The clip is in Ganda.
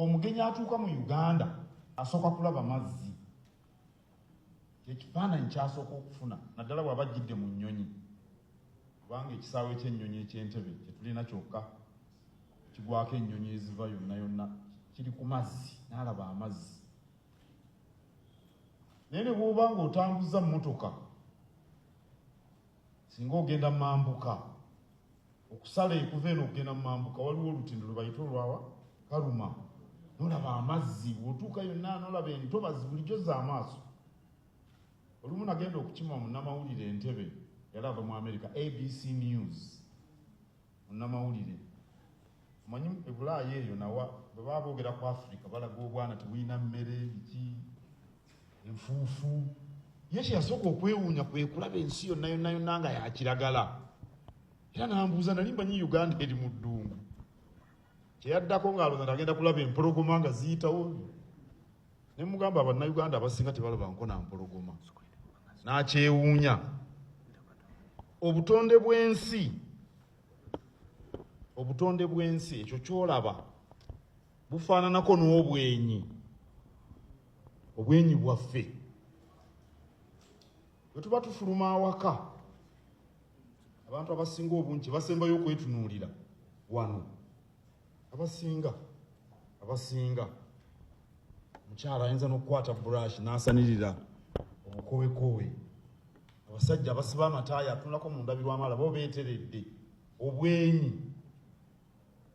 omugenyi atuuka mu uganda asooka kulaba mazzi kyekifaananyi kyasooka okufuna naddala bwaba ajjidde mu nnyonyi kubanga ekisaawe kyennyonyi ekyentebe kyetulina kyokka kigwako ennyonyi eziva yonna yonna kiri ku mazzi naalaba amazzi naye ne bwoba nga otambuza mmotoka singa ogenda mambuka okusala ekuva eno okugenda mu mambuka waliwo olutindo lwe bayita olwawa kaluma nolaba amazzi bwotuuka yonna nolaba entobazi bulijjo za amaaso olumu nagenda okukima munamawulire entebe yali ava mu america abc news munamawulire omanyi ebulaayo eyo nawa bwe baba boogera ku africa balaga obwana tebulina mmere biki enfuufu ye kyeyasooka okwewuunya kwekulaba ensi yonna yonna yonna nga yakiragala era nambuuza nali mbanyi uganda eri mu ddungu kyeyaddako ngaalooza nagenda kulaba empologoma nga ziyitawo ne mugamba abannauganda abasinga tebalabanko na mpologoma nakyewuunya obutonde bw'ensi obutonde bw'ensi ekyo kyolaba bufaananako n'obwenyi obwenyi bwaffe bwe tuba tufuluma awaka abantu abasinga obungi basembayo okwetunuulira wano abasinga abasinga mukyala ayinza n'okukwata burash n'asanirira obukowekowe abasajja abasiba amataaya atunulako mu ndabirwamu alaba obeeteredde obwenyi